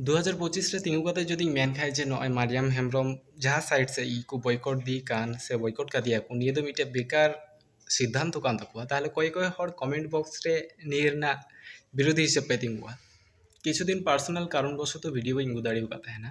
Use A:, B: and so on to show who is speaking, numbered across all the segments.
A: ᱫᱩ ᱦᱟᱡᱟᱨ ᱯᱚᱸᱪᱤᱥ ᱨᱮ ᱛᱤᱸᱜᱩ ᱠᱟᱛᱮ ᱡᱩᱫᱤᱧ ᱢᱮᱱ ᱠᱷᱟᱡ ᱡᱮ ᱱᱚᱜᱼᱚᱭ ᱢᱟᱨᱤᱭᱟᱢ ᱦᱮᱢᱵᱨᱚᱢ ᱡᱟᱦᱟᱸ ᱥᱟᱭᱤᱰ ᱥᱮᱡ ᱜᱮᱠᱚ ᱵᱚᱭᱠᱚᱴᱫᱮ ᱠᱟᱱ ᱥᱮ ᱵᱚᱭᱠᱚᱴ ᱠᱟᱫᱮᱭᱟ ᱠᱚ ᱱᱤᱭᱟᱹ ᱫᱚ ᱢᱤᱫᱴᱮᱡ ᱵᱮᱠᱟᱨ ᱥᱤᱫᱽᱫᱷᱟᱱᱛᱚ ᱠᱟᱱ ᱛᱟᱠᱚᱣᱟ ᱛᱟᱦᱚᱞᱮ ᱚᱠᱚᱭ ᱚᱠᱚᱭ ᱦᱚᱲ ᱠᱚᱢᱮᱱᱴ ᱵᱚᱠᱥ ᱨᱮ ᱱᱤᱭᱟᱹ ᱨᱮᱱᱟᱜ ᱵᱤᱨᱳᱫᱷᱤ ᱦᱤᱥᱟᱹᱵ ᱯᱮ ᱛᱤᱸᱜᱩᱜᱼᱟ ᱠᱤᱪᱷᱩ ᱫᱤᱱ ᱯᱟᱨᱥᱚᱱᱟᱞ ᱠᱟᱨᱚᱱ ᱵᱚᱥᱚᱛᱚ ᱵᱷᱤᱰᱤᱭᱳ ᱵᱟᱹᱧ ᱟᱹᱜᱩ ᱫᱟᱲᱮᱣ ᱠᱟᱫ ᱛᱟᱦᱮᱱᱟ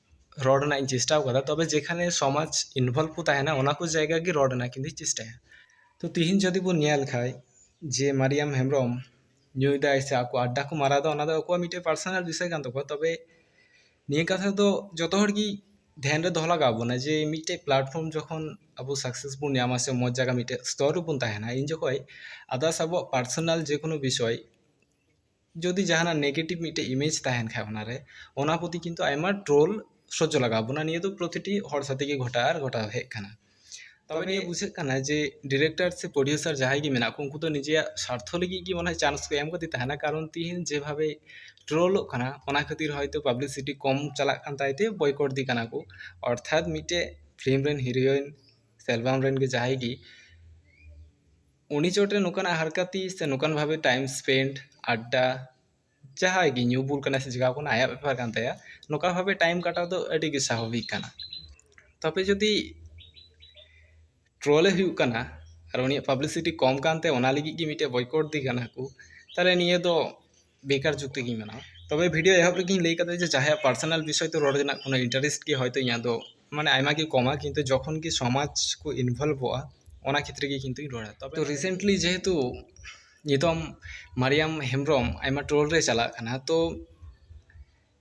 A: ᱨᱚᱲ ᱨᱮᱱᱟᱜ ᱤᱧ ᱪᱮᱥᱴᱟᱣ ᱠᱟᱫᱟ ᱛᱚᱵᱮ ᱡᱮᱠᱷᱟᱱᱮ ᱥᱚᱢᱟᱡᱽ ᱤᱱᱵᱷᱚᱞᱵᱷ ᱠᱚ ᱛᱟᱦᱮᱱᱟ ᱚᱱᱟ ᱠᱚ ᱡᱟᱭᱜᱟ ᱜᱮ ᱨᱚᱲ ᱨᱮᱱᱟᱜ ᱠᱤᱱᱛᱩᱧ ᱪᱮᱥᱴᱟᱭᱟ ᱛᱚ ᱛᱤᱦᱤᱧ ᱡᱩᱫᱤ ᱵᱚᱱ ᱧᱮᱞ ᱠᱷᱟᱡ ᱡᱮ ᱢᱟᱨᱤᱭᱟᱢ ᱦᱮᱢᱵᱨᱚᱢ ᱧᱩᱭᱫᱟᱭ ᱥᱮ ᱟᱠᱚ ᱟᱰᱰᱟ ᱠᱚ ᱢᱟᱨᱟᱣᱫᱟ ᱚᱱᱟ ᱫᱚ ᱟᱠᱚᱣᱟᱜ ᱢᱤᱫᱴᱮᱡ ᱯᱟᱨᱥᱚᱱᱟᱞ ᱵᱤᱥᱚᱭ ᱠᱟᱱ ᱛᱟᱠᱚᱣᱟ ᱛᱚᱵᱮ ᱱᱤᱭᱟᱹ ᱠᱟᱛᱷᱟ ᱫᱚ ᱡᱚᱛᱚ ᱦᱚᱲ ᱜᱮ ᱫᱷᱮᱭᱟᱱ ᱨᱮ ᱫᱚᱦᱚ ᱞᱟᱜᱟᱣ ᱵᱚᱱᱟ ᱡᱮ ᱢᱤᱫᱴᱮᱡ ᱯᱞᱟᱴᱯᱷᱨᱚᱢ ᱡᱚᱠᱷᱚᱱ ᱟᱵᱚ ᱥᱟᱠᱥᱮᱥ ᱵᱚᱱ ᱧᱟᱢᱟ ᱥᱮ ᱢᱚᱡᱽ ᱡᱟᱭᱜᱟ ᱢᱤᱫᱴᱮᱡ ᱥᱛᱚᱨ ᱨᱮᱵᱚᱱ ᱛᱟᱦᱮᱱᱟ ᱤᱱ ᱡᱚᱠᱷᱚᱡ ᱟᱫᱟᱨᱥ ᱟᱵᱚᱣᱟᱜ ᱯᱟᱨᱥᱚᱱᱟᱞ ᱡᱮᱠᱳᱱᱳ ᱵᱤᱥᱚᱭ ᱡᱩᱫᱤ ᱡᱟᱦᱟᱱᱟᱜ ᱱᱮᱜᱮᱴᱤᱵᱷ ᱢᱤᱫᱴᱮᱡ ᱤᱢᱮᱡᱽ ᱛᱟᱦᱮᱱ ᱠᱷᱟᱡ ᱚᱱᱟ ᱨᱮ ᱚᱱᱟ ᱯᱨᱚᱛᱤ ᱠᱤᱱᱛᱩ ᱟᱭᱢᱟ ᱴᱨᱳᱞ ᱥᱚᱡᱽᱡᱚ ᱞᱟᱜᱟᱣ ᱵᱚᱱᱟ ᱱᱤᱭᱟᱹ ᱫᱚ ᱯᱨᱚᱛᱤᱴᱤ ᱦᱚᱲ ᱥᱟᱛᱮ ᱜᱮ ᱜᱷᱚᱴᱟᱜᱼᱟ ᱟᱨ ᱜᱷᱚᱴᱟᱣ ᱦᱮᱡ ᱠᱟᱱᱟ ᱛᱚᱵᱮ ᱱᱤᱭᱟᱹ ᱵᱩᱡᱷᱟᱹᱜ ᱠᱟᱱᱟ ᱡᱮ ᱰᱤᱨᱮᱠᱴᱟᱨ ᱥᱮ ᱯᱨᱚᱰᱤᱭᱩᱥᱟᱨ ᱡᱟᱦᱟᱸᱭ ᱜᱮ ᱢᱮᱱᱟᱜ ᱠᱚ ᱩᱱᱠᱩ ᱫᱚ ᱱᱤᱡᱮᱭᱟᱜ ᱥᱟᱨᱛᱷᱚ ᱞᱟᱹᱜᱤᱫ ᱜᱮ ᱢᱚᱱᱮ ᱦᱚᱭ ᱪᱟᱱᱥ ᱠᱚ ᱮᱢ ᱠᱟᱫᱮ ᱛᱟᱦᱮᱱᱟ ᱠᱟᱨᱚᱱ ᱛᱤᱦᱤᱧ ᱡᱮ ᱵᱷᱟᱵᱮ ᱴᱨᱳᱞᱚᱜ ᱠᱟᱱᱟ ᱚᱱᱟ ᱠᱷᱟᱹᱛᱤᱨ ᱦᱚᱭᱛᱳ ᱯᱟᱵᱽᱞᱤᱥᱤᱴᱤ ᱠᱚᱢ ᱪᱟᱞᱟᱜ ᱠᱟᱱ ᱛᱟᱭ ᱛᱮ ᱵᱚᱭᱠᱚᱴ ᱮᱫᱮ ᱠᱟᱱᱟ ᱠᱚ ᱚᱨᱛᱷᱟᱛ ᱢᱤᱫᱴᱮᱡ ᱯᱷᱤᱞᱢ ᱨᱮᱱ ᱦᱤᱨᱳᱭᱤᱱ ᱥᱮ ᱮᱞᱵᱟᱢ ᱨᱮᱱ ᱜᱮ ᱡᱟᱦᱟᱸᱭ ᱜᱮ ᱩᱱᱤ ᱪᱚᱴᱨᱮ ᱱᱚᱝᱠᱟᱱᱟᱜ ᱦᱟᱨᱠᱟᱛᱤ ᱥᱮ ᱱᱚᱝᱠᱟᱱ ᱵᱷᱟᱵᱮ ᱴᱟᱭᱤᱢ ᱥᱯᱮᱱᱰ ᱟᱰᱰᱟ ᱡᱟᱦᱟᱸᱭ ᱜᱮ ᱧᱩ ᱵᱩᱞ ᱠᱟᱱᱟᱭ ᱥᱮ ᱪᱮᱠᱟᱣ ᱠᱟᱱᱟᱭ ᱟᱭᱟᱜ ᱵᱮᱯᱟᱨ ᱠᱟᱱ ᱛᱟᱭᱟ ᱱᱚᱝᱠᱟ ᱵᱷᱟᱵᱮ ᱴᱟᱭᱤᱢ ᱠᱟᱴᱟᱣ ᱫᱚ ᱟᱹᱰᱤ ᱜᱮ ᱥᱟᱵᱷᱟᱵᱤᱠ ᱠᱟᱱᱟ ᱛᱚᱵᱮ ᱡᱩᱫᱤ ᱴᱨᱚᱞᱮ ᱦᱩᱭᱩᱜ ᱠᱟᱱᱟ ᱟᱨ ᱩᱱᱤᱭᱟᱜ ᱯᱟᱵᱽᱞᱤᱥᱤᱴᱤ ᱠᱚᱢ ᱠᱟᱱ ᱛᱟᱭᱟ ᱚᱱᱟ ᱞᱟᱹᱜᱤᱫ ᱜᱮ ᱢᱤᱫᱴᱮᱱ ᱵᱚᱭᱠᱚᱴ ᱮᱫᱮ ᱠᱟᱱᱟ ᱠᱚ ᱛᱟᱦᱚᱞᱮ ᱱᱤᱭᱟᱹ ᱫᱚ ᱵᱮᱠᱟᱨ ᱡᱩᱠᱛᱤ ᱜᱤᱧ ᱢᱟᱱᱟᱣᱟ ᱛᱚᱵᱮ ᱵᱷᱤᱰᱤᱭᱳ ᱮᱦᱚᱵ ᱨᱮᱜᱮᱧ ᱞᱟᱹᱭ ᱠᱟᱫᱟ ᱡᱮ ᱡᱟᱦᱟᱸᱭᱟᱜ ᱯᱟᱨᱥᱚᱱᱟᱞ ᱵᱤᱥᱚᱭ ᱛᱮ ᱨᱚᱲ ᱨᱮᱱᱟᱜ ᱠᱳᱱᱳ ᱤᱱᱴᱟᱨᱮᱥᱴ ᱜᱮ ᱦᱚᱭᱛᱳ ᱤᱧᱟᱹᱜ ᱫᱚ ᱢᱟᱱᱮ ᱟᱭᱢᱟ ᱜᱮ ᱠᱚᱢᱟ ᱠᱤᱱᱛᱩ ᱡᱚᱠᱷᱚᱱ ᱜᱮ ᱥᱚᱢᱟᱡᱽ ᱠᱚ ᱤᱱᱵᱷᱚᱞᱵᱷᱚᱜᱼᱟ ᱚᱱᱟ ᱠᱷᱮᱛᱨᱮ ᱜᱮ ᱠᱤᱱᱛᱩᱧ ᱨᱚᱲᱟ ᱛᱚᱵᱮ ᱨᱤᱥᱮᱱᱴᱞᱤ ᱡᱮᱦᱮᱛᱩ ᱱᱤᱛᱚᱝ ᱢᱟᱨᱤᱭᱟᱢ ᱦᱮᱢᱵᱨᱚᱢ ᱟᱭᱢᱟ ᱴᱨᱳᱞ ᱨᱮ ᱪᱟᱞᱟᱜ ᱠᱟᱱᱟ ᱛᱚ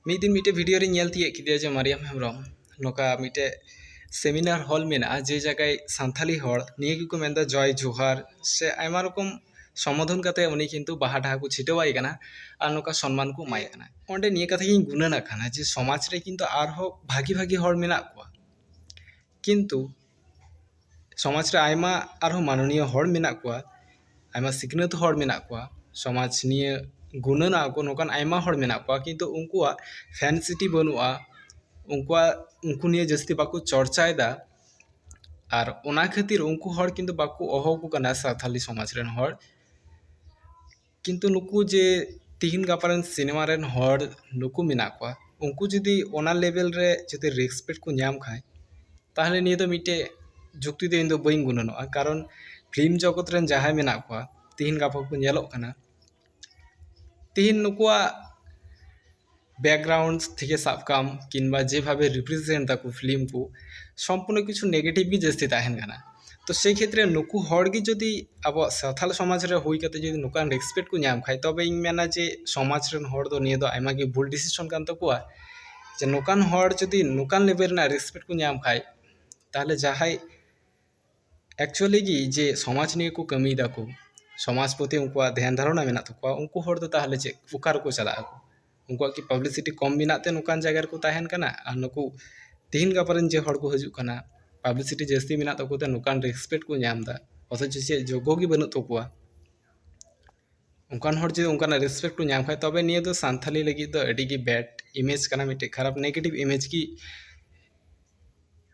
A: ᱢᱤᱫ ᱫᱤᱱ ᱢᱤᱫᱴᱮᱡ ᱵᱷᱤᱰᱤᱭᱳ ᱨᱮᱧ ᱧᱮᱞ ᱛᱤᱭᱟᱹᱜ ᱠᱮᱫᱮᱭᱟ ᱡᱮ ᱢᱟᱨᱤᱭᱟᱢ ᱦᱮᱢᱵᱨᱚᱢ ᱱᱚᱝᱠᱟ ᱢᱤᱫᱴᱮᱡ ᱥᱮᱢᱤᱱᱟᱨ ᱦᱚᱞ ᱢᱮᱱᱟᱜᱼᱟ ᱡᱮ ᱡᱟᱭᱜᱟ ᱥᱟᱱᱛᱟᱲᱤ ᱦᱚᱲ ᱱᱤᱭᱟᱹ ᱜᱮᱠᱚ ᱢᱮᱱᱫᱟ ᱡᱚᱭ ᱡᱚᱦᱟᱨ ᱥᱮ ᱟᱭᱢᱟ ᱨᱚᱠᱚᱢ ᱥᱚᱢᱵᱳᱫᱷᱚᱱ ᱠᱟᱛᱮ ᱩᱱᱤ ᱠᱤᱱᱛᱩ ᱵᱟᱦᱟ ᱰᱟᱦᱟ ᱠᱚ ᱪᱷᱤᱴᱟᱹᱣ ᱟᱭ ᱠᱟᱱᱟ ᱟᱨ ᱱᱚᱝᱠᱟ ᱥᱚᱱᱢᱟᱱ ᱠᱚ ᱮᱢᱟᱭ ᱠᱟᱱᱟ ᱚᱸᱰᱮ ᱱᱤᱭᱟᱹ ᱠᱟᱛᱷᱟ ᱜᱮᱧ ᱜᱩᱱᱟᱹᱱᱚᱜ ᱠᱟᱱᱟ ᱡᱮ ᱥᱚᱢᱟᱡᱽ ᱨᱮ ᱠᱤᱱᱛᱩ ᱟᱨᱦᱚᱸ ᱵᱷᱟᱜᱮ ᱵᱷᱟᱜᱮ ᱦᱚᱲ ᱢᱮᱱᱟᱜ ᱠᱚᱣᱟ ᱠᱤᱱᱛᱩ ᱥᱚᱢᱟᱡᱽ ᱨᱮ ᱟᱭᱢᱟ ᱟᱨᱦᱚᱸ ᱢᱟᱱᱚᱱᱤᱭᱚ ᱦᱚᱲ ᱢᱮᱱᱟᱜ ᱠᱚᱣᱟ ᱟᱭᱢᱟ ᱥᱤᱠᱷᱱᱟᱹᱛ ᱦᱚᱲ ᱢᱮᱱᱟᱜ ᱠᱚᱣᱟ ᱥᱚᱢᱟᱡᱽ ᱱᱤᱭᱟᱹ ᱜᱩᱱᱟᱹᱱᱚᱜ ᱟᱠᱚ ᱱᱚᱝᱠᱟᱱ ᱟᱭᱢᱟ ᱦᱚᱲ ᱢᱮᱱᱟᱜ ᱠᱚᱣᱟ ᱠᱤᱱᱛᱩ ᱩᱱᱠᱩᱣᱟᱜ ᱥᱮᱱᱥᱤᱴᱤ ᱵᱟᱹᱱᱩᱜᱼᱟ ᱩᱱᱠᱩᱣᱟᱜ ᱩᱱᱠᱩ ᱱᱤᱭᱮ ᱡᱟᱹᱥᱛᱤ ᱵᱟᱠᱚ ᱪᱚᱨᱪᱟᱭᱮᱫᱟ ᱟᱨ ᱚᱱᱟ ᱠᱷᱟᱹᱛᱤᱨ ᱩᱱᱠᱩ ᱦᱚᱲ ᱠᱤᱱᱛᱩ ᱵᱟᱠᱚ ᱦᱚᱦᱚᱣᱟᱠᱚ ᱠᱟᱱᱟ ᱥᱟᱱᱛᱟᱲᱤ ᱥᱚᱢᱟᱡᱽ ᱨᱮᱱ ᱦᱚᱲ ᱠᱤᱱᱛᱩ ᱱᱩᱠᱩ ᱡᱮ ᱛᱤᱦᱤᱧ ᱜᱟᱯᱟ ᱨᱮᱱ ᱥᱤᱱᱮᱢᱟ ᱨᱮᱱ ᱦᱚᱲ ᱱᱩᱠᱩ ᱢᱮᱱᱟᱜ ᱠᱚᱣᱟ ᱩᱱᱠᱩ ᱡᱩᱫᱤ ᱚᱱᱟ ᱞᱮᱵᱮᱞ ᱨᱮ ᱡᱩᱫᱤ ᱨᱮᱥᱯᱮᱠᱴ ᱠᱚ ᱧᱟᱢ ᱠᱷᱟᱡ ᱛᱟᱦᱚᱞᱮ ᱱᱤᱭᱟᱹ ᱫᱚ ᱢᱤᱫᱴᱮᱡ ᱡᱩᱠᱛᱤ ᱫᱚ ᱤᱧ ᱫᱚ ᱵᱟᱹᱧ ᱜᱩᱱᱟᱹᱱᱚᱜᱼᱟ ᱠᱟᱨᱚᱱ ᱯᱷᱤᱞᱢ ᱡᱚᱜᱚᱛ ᱨᱮᱱ ᱡᱟᱦᱟᱸᱭ ᱢᱮᱱᱟᱜ ᱠᱚᱣᱟ ᱛᱤᱦᱤᱧ ᱜᱟᱯᱟ ᱠᱚ ᱧᱮᱞᱚᱜ ᱠᱟᱱᱟ ᱛᱤᱦᱤᱧ ᱱᱩᱠᱩᱣᱟᱜ ᱵᱮᱠᱜᱨᱟᱣᱩᱱᱰᱥ ᱛᱷᱮᱠᱮ ᱥᱟᱵ ᱠᱟᱜ ᱟᱢ ᱠᱤᱢᱵᱟ ᱡᱮ ᱵᱷᱟᱵᱮ ᱨᱤᱯᱨᱮᱡᱮᱱᱴ ᱫᱟᱠᱚ ᱯᱷᱤᱞᱤᱢ ᱠᱚ ᱥᱚᱢᱯᱩᱨᱱᱚ ᱠᱤᱪᱷᱩ ᱱᱮᱜᱮᱴᱤᱵᱷ ᱜᱮ ᱡᱟᱹᱥᱛᱤ ᱛᱟᱦᱮᱱ ᱠᱟᱱᱟ ᱛᱚ ᱥᱮᱭ ᱠᱷᱮᱛᱨᱮ ᱱᱩᱠᱩ ᱦᱚᱲ ᱜᱮ ᱡᱩᱫᱤ ᱟᱵᱚᱣᱟᱜ ᱥᱟᱱᱛᱟᱲ ᱥᱚᱢᱟᱡᱽ ᱨᱮ ᱦᱩᱭ ᱠᱟᱛᱮ ᱡᱩᱫᱤ ᱱᱚᱝᱠᱟᱱ ᱨᱮᱥᱯᱮᱠᱴ ᱠᱚ ᱧᱟᱢ ᱠᱷᱟᱡ ᱛᱚᱵᱮ ᱤᱧ ᱢᱮᱱᱟ ᱡᱮ ᱥᱚᱢᱟᱡᱽ ᱨᱮᱱ ᱦᱚᱲ ᱫᱚ ᱱᱤᱭᱟᱹ ᱫᱚ ᱟᱭᱢᱟ ᱜᱮ ᱵᱷᱩᱞ ᱰᱤᱥᱤᱥᱚᱱ ᱠᱟᱱ ᱛᱟᱠᱚᱣᱟ ᱡᱮ ᱱᱚᱝᱠᱟᱱ ᱦᱚᱲ ᱡᱩᱫᱤ ᱱᱚᱝᱠᱟᱱ ᱞᱮᱵᱮᱞ ᱨᱮᱱᱟᱜ ᱨᱮᱥᱯᱮᱠᱴ ᱠᱚ ᱧᱟᱢ ᱠᱷᱟᱡ ᱛᱟᱦᱚᱞᱮ ᱡᱟᱦᱟᱸᱭ ᱮᱠᱪᱩᱭᱮᱞᱤ ᱜᱮ ᱡᱮ ᱥᱚᱢᱟᱡᱽ ᱱᱤᱭᱮ ᱠᱚ ᱠᱟᱹᱢᱤᱭ ᱫᱟᱠᱚ ᱥᱚᱢᱟᱡᱽ ᱯᱨᱚᱛᱤ ᱩᱱᱠᱩᱣᱟᱜ ᱫᱷᱮᱭᱟᱱ ᱫᱷᱟᱨᱚᱱᱟ ᱢᱮᱱᱟᱜ ᱛᱟᱠᱚᱣᱟ ᱩᱱᱠᱩ ᱦᱚᱲ ᱫᱚ ᱛᱟᱦᱚᱞᱮ ᱪᱮᱫ ᱚᱠᱟ ᱨᱮᱠᱚ ᱪᱟᱞᱟᱜᱼᱟ ᱩᱱᱠᱩᱣᱟᱜ ᱠᱤ ᱯᱟᱵᱽᱞᱤᱥᱤᱴᱤ ᱠᱚᱢ ᱢᱮᱱᱟᱜ ᱛᱮ ᱱᱚᱝᱠᱟᱱ ᱡᱟᱭᱜᱟ ᱨᱮᱠᱚ ᱛᱟᱦᱮᱱ ᱠᱟᱱᱟ ᱟᱨ ᱱᱩᱠᱩ ᱛᱤᱦᱤᱧ ᱜᱟᱯᱟ ᱨᱮᱱ ᱡᱮ ᱦᱚᱲ ᱠᱚ ᱦᱤᱡᱩᱜ ᱠᱟᱱᱟ ᱯᱟᱵᱽᱞᱤᱥᱤᱴᱤ ᱡᱟᱹᱥᱛᱤ ᱢᱮᱱᱟᱜ ᱛᱟᱠᱚ ᱛᱮ ᱱᱚᱝᱠᱟᱱ ᱨᱮᱥᱯᱮᱠᱴ ᱠᱚ ᱧᱟᱢᱫᱟ ᱚᱛᱷᱚᱪᱚ ᱪᱮᱫ ᱡᱳᱜᱽᱜᱚ ᱜᱮ ᱵᱟᱹᱱᱩᱜ ᱛᱟᱠᱚᱣᱟ ᱚᱱᱠᱟᱱ ᱦᱚᱲ ᱡᱩᱫᱤ ᱚᱱᱠᱟᱱᱟᱜ ᱨᱮᱥᱯᱮᱠᱴ ᱠᱚ ᱧᱟᱢ ᱠᱷᱟᱱ ᱛᱚᱵᱮ ᱱᱤᱭᱟᱹ ᱫᱚ ᱥᱟᱱᱛᱷᱟᱞᱤ ᱞᱟᱹᱜᱤᱫ ᱫᱚ ᱟᱹᱰᱤ ᱜᱮ ᱵᱮᱰ ᱤᱢᱮᱡᱽ ᱠᱟᱱᱟ ᱢᱤᱫᱴᱮᱱ ᱠᱷᱟᱨᱟᱯ ᱱᱮᱜᱮᱴᱤᱵᱷ ᱤᱢᱮᱡᱽ ᱜᱮ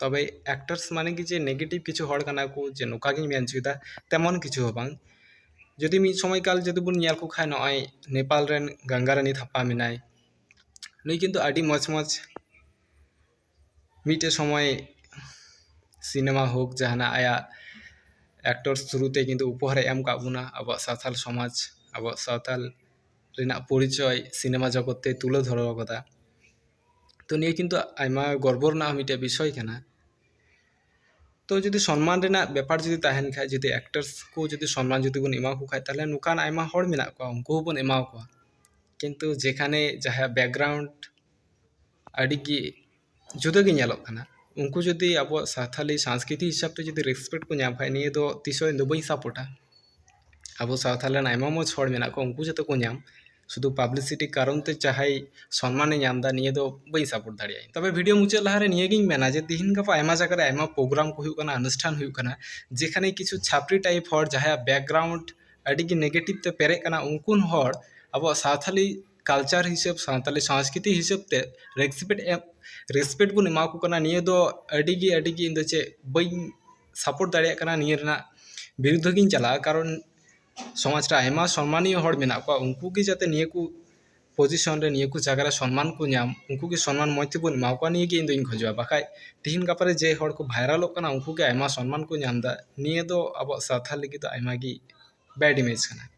A: ᱛᱚᱵᱮ ᱮᱠᱴᱟᱨᱥ ᱢᱟᱱᱮ ᱜᱮ ᱡᱮ ᱱᱮᱜᱮᱴᱤᱵᱷ ᱠᱤᱪᱷᱩ ᱦᱚᱲ ᱠᱟᱱᱟ ᱠᱚ ᱡᱮ ᱱᱚᱝᱠᱟ ᱜᱤᱧ ᱢᱮᱱ ᱦᱚᱪᱚᱭᱮᱫᱟ ᱛᱮᱢᱚᱱ ᱠᱤᱪᱷᱩ ᱦᱚᱸ ᱵᱟᱝ ᱡᱩᱫᱤ ᱢᱤᱫ ᱥᱚᱢᱚᱭ ᱠᱟᱞ ᱡᱩᱫᱤ ᱵᱚᱱ ᱧᱮᱞ ᱠᱚ ᱠᱷᱟᱱ ᱱᱚᱜᱼᱚᱸᱭ ᱱᱮᱯᱟᱞ ᱨᱮᱱ ᱜᱟᱝᱜᱟ ᱨᱟᱱᱤ ᱛᱷᱟᱯᱟ ᱢᱮᱱᱟᱭ ᱱᱩᱭ ᱠᱤᱱᱛᱩ ᱟᱹᱰᱤ ᱢᱚᱡᱽ ᱢᱚᱡᱽ ᱢᱤᱫᱴᱮᱱ ᱥᱚᱢᱚᱭ ᱥᱤᱱᱮᱢᱟ ᱦᱳᱠ ᱡᱟᱦᱟᱱᱟᱜ ᱟᱭᱟᱜ ᱮᱠᱴᱚᱨᱥ ᱛᱷᱨᱩ ᱛᱮ ᱠᱤᱱᱛᱩ ᱩᱯᱚᱦᱟᱨᱮ ᱮᱢ ᱠᱟᱜ ᱵᱚᱱᱟ ᱟᱵᱚᱣᱟᱜ ᱥᱟᱱᱛᱟᱲ ᱥᱚᱢᱟᱡᱽ ᱟᱵᱚᱣᱟᱜ ᱥᱟᱶᱛᱟᱞ ᱨᱮᱱᱟᱜ ᱯᱚᱨᱤᱪᱚᱭ ᱥᱤᱱᱮᱢᱟ ᱡᱚᱜᱚᱛ ᱛᱮ ᱛᱩᱞᱟᱹ ᱫᱷᱚᱨᱟᱣ ᱠᱟᱫᱟ ᱛᱚ ᱱᱤᱭᱟᱹ ᱠᱤᱱᱛᱩ ᱟᱭᱢᱟ ᱜᱚᱨᱵᱚ ᱨᱮᱱᱟᱜ ᱢᱤᱫᱴᱮᱱ ᱵᱤᱥᱚᱭ ᱠᱟᱱᱟ ᱛᱚ ᱡᱩᱫᱤ ᱥᱚᱱᱢᱟᱱ ᱨᱮᱱᱟᱜ ᱵᱮᱯᱟᱨ ᱡᱩᱫᱤ ᱛᱟᱦᱮᱱ ᱠᱷᱟᱱ ᱡᱩᱫᱤ ᱮᱠᱴᱟᱨᱥ ᱠᱚ ᱡᱩᱫᱤ ᱥᱚᱱᱢᱟᱱ ᱡᱩᱫᱤ ᱵᱚᱱ ᱮᱢᱟᱣᱟᱠᱚ ᱠᱷᱟᱱ ᱛᱟᱦᱚᱞᱮ ᱱᱚᱝᱠᱟᱱ ᱟᱭᱢᱟ ᱦᱚᱲ ᱢᱮᱱᱟᱜ ᱠᱚᱣᱟ ᱩᱱᱠᱩ ᱦᱚᱸᱵᱚᱱ ᱮᱢᱟᱣᱟᱠᱚᱣᱟ ᱠᱤᱱᱛᱩ ᱡᱮᱠᱷᱟᱱᱮ ᱡᱟᱦᱟᱸᱭᱟᱜ ᱵᱮᱠᱜᱨᱟᱣᱩᱱᱰ ᱟᱹᱰᱤ ᱜᱮ ᱡᱩᱫᱟᱹ ᱜᱮ ᱧᱮᱞᱚᱜ ᱠᱟᱱᱟ ᱩᱱᱠᱩ ᱡᱩᱫᱤ ᱟᱵᱚᱣᱟᱜ ᱥᱟᱱᱛᱟᱲᱤ ᱥᱟᱝᱥᱠᱨᱤᱛᱤ ᱦᱤᱥᱟᱹᱵ ᱛᱮ ᱡᱩᱫᱤ ᱨᱮᱥᱯᱮᱠᱴ ᱠᱚ ᱧᱟᱢ ᱠᱷᱟᱱ ᱱᱤᱭᱟᱹ ᱫᱚ ᱛᱤᱥ ᱦᱚᱸ ᱤᱧ ᱫᱚ ᱵᱟᱹᱧ ᱥᱟᱯᱳᱨᱴᱟ ᱟᱵᱚ ᱥᱟᱶᱛᱟ ᱨᱮᱱ ᱟᱭᱢᱟ ᱢᱚᱡᱽ ᱦᱚᱲ ᱢᱮᱱᱟᱜ ᱠᱚᱣᱟ ᱩᱱᱠᱩ ᱡᱟᱛᱮ ᱠᱚ ᱧᱟᱢ ᱥᱩᱫᱩ ᱯᱟᱵᱽᱞᱤᱥᱤᱴᱤ ᱠᱟᱨᱚᱱ ᱛᱮ ᱡᱟᱦᱟᱸᱭ ᱥᱚᱱᱢᱟᱱᱮ ᱧᱟᱢ ᱮᱫᱟ ᱱᱤᱭᱟᱹ ᱫᱚ ᱵᱟᱹᱧ ᱥᱟᱯᱳᱨᱴ ᱫᱟᱲᱮᱭᱟᱜᱼᱟ ᱤᱧ ᱛᱚᱵᱮ ᱵᱷᱤᱰᱤᱭᱳ ᱢᱩᱪᱟᱹᱫ ᱞᱟᱦᱟᱨᱮ ᱱᱤᱭᱟᱹᱜᱤᱧ ᱢᱮᱱᱟ ᱡᱮ ᱛᱤᱦᱤᱧ ᱜᱟᱯᱟ ᱟᱭᱢᱟ ᱡᱟᱭᱜᱟ ᱨᱮ ᱟᱭᱢᱟ ᱯᱨᱳᱜᱨᱟᱢ ᱠᱚ ᱦᱩᱭᱩᱜ ᱠᱟᱱᱟ ᱚᱱᱩᱥᱴᱷᱟᱱ ᱦᱩᱭᱩᱜ ᱠᱟᱱᱟ ᱡᱮᱠᱷᱟᱱᱮ ᱠᱤᱪᱷᱩ ᱪᱷᱟᱯᱨᱤ ᱴᱟᱭᱤᱯ ᱦᱚᱲ ᱡᱟᱦᱟᱸᱭᱟᱜ ᱵᱮᱠᱜᱨᱟᱣᱩᱱᱰ ᱟᱹᱰᱤ ᱜᱮ ᱱᱮᱜᱮᱴᱤᱵᱽ ᱛᱮ ᱯᱮᱨᱮᱡ ᱟᱠᱟᱱᱟ ᱩᱱᱠᱩ ᱦᱚᱲ ᱟᱵᱚᱣᱟᱜ ᱥᱟᱱᱛᱟᱲᱤ ᱠᱟᱞᱪᱟᱨ ᱦᱤᱥᱟᱹᱵᱽ ᱥᱟᱱᱛᱟᱲᱤ ᱥᱚᱥᱠᱨᱤᱛᱤ ᱦᱤᱥᱟᱹᱵᱽ ᱛᱮ ᱨᱮᱥᱯᱮᱠᱴ ᱮᱢ ᱨᱮᱥᱯᱮᱠᱴ ᱵᱚᱱ ᱮᱢᱟ ᱠᱚ ᱠᱟᱱᱟ ᱱᱤᱭᱟᱹ ᱫᱚ ᱟᱹᱰᱤ ᱜᱮ ᱟᱹᱰᱤ ᱜᱮ ᱤᱧ ᱫᱚ ᱪᱮᱫ ᱵᱟᱹᱧ ᱥᱟᱯᱳᱨᱴ ᱫᱟᱲᱮᱭᱟᱜ ᱠᱟᱱᱟ ᱱᱤᱭᱟᱹ ᱨᱮᱱᱟᱜ ᱵᱤᱨᱩᱫᱽᱫᱷᱚ ᱜᱤᱧ ᱪᱟᱞᱟᱜᱼᱟ ᱠᱟᱨᱚᱱ ᱥᱚᱢᱟᱡᱽ ᱨᱮ ᱟᱭᱢᱟ ᱥᱚᱱᱢᱟᱱᱤᱭᱚ ᱦᱚᱲ ᱢᱮᱱᱟᱜ ᱠᱚᱣᱟ ᱩᱱᱠᱩ ᱜᱮ ᱡᱟᱛᱮ ᱱᱤᱭᱟᱹ ᱠᱚ ᱯᱚᱡᱤᱥᱚᱱ ᱨᱮ ᱱᱤᱭᱟᱹ ᱠᱚ ᱡᱟᱭᱜᱟ ᱨᱮ ᱥᱚᱱᱢᱟᱱ ᱠᱚ ᱧᱟᱢ ᱩᱱᱠᱩ ᱜᱮ ᱥᱚᱱᱢᱟᱱ ᱢᱚᱡᱽ ᱛᱮᱵᱚᱱ ᱮᱢᱟ ᱠᱚᱣᱟ ᱱᱤᱭᱟᱹ ᱜᱮ ᱤᱧ ᱫᱩᱧ ᱠᱷᱚᱡᱚᱜᱼᱟ ᱵᱟᱠᱷᱟᱡ ᱛᱤᱦᱤᱧ ᱜᱟᱯᱟ ᱨᱮ ᱡᱮ ᱦᱚᱲ ᱠᱚ ᱵᱷᱟᱭᱨᱟᱞᱚᱜ ᱠᱟᱱᱟ ᱩᱱᱠᱩ ᱜᱮ ᱟᱭᱢᱟ ᱥᱚᱱᱢᱟᱱ ᱠᱚ ᱧᱟᱢᱫᱟ ᱱᱤᱭᱟᱹ ᱫᱚ ᱟᱵᱚᱣᱟᱜ ᱥᱟᱶᱛᱟ ᱞᱟᱹᱜᱤᱫ ᱫᱚ ᱟᱭᱢᱟ ᱜᱮ ᱵᱮᱰ ᱤᱢᱮᱡᱽ ᱠᱟᱱᱟ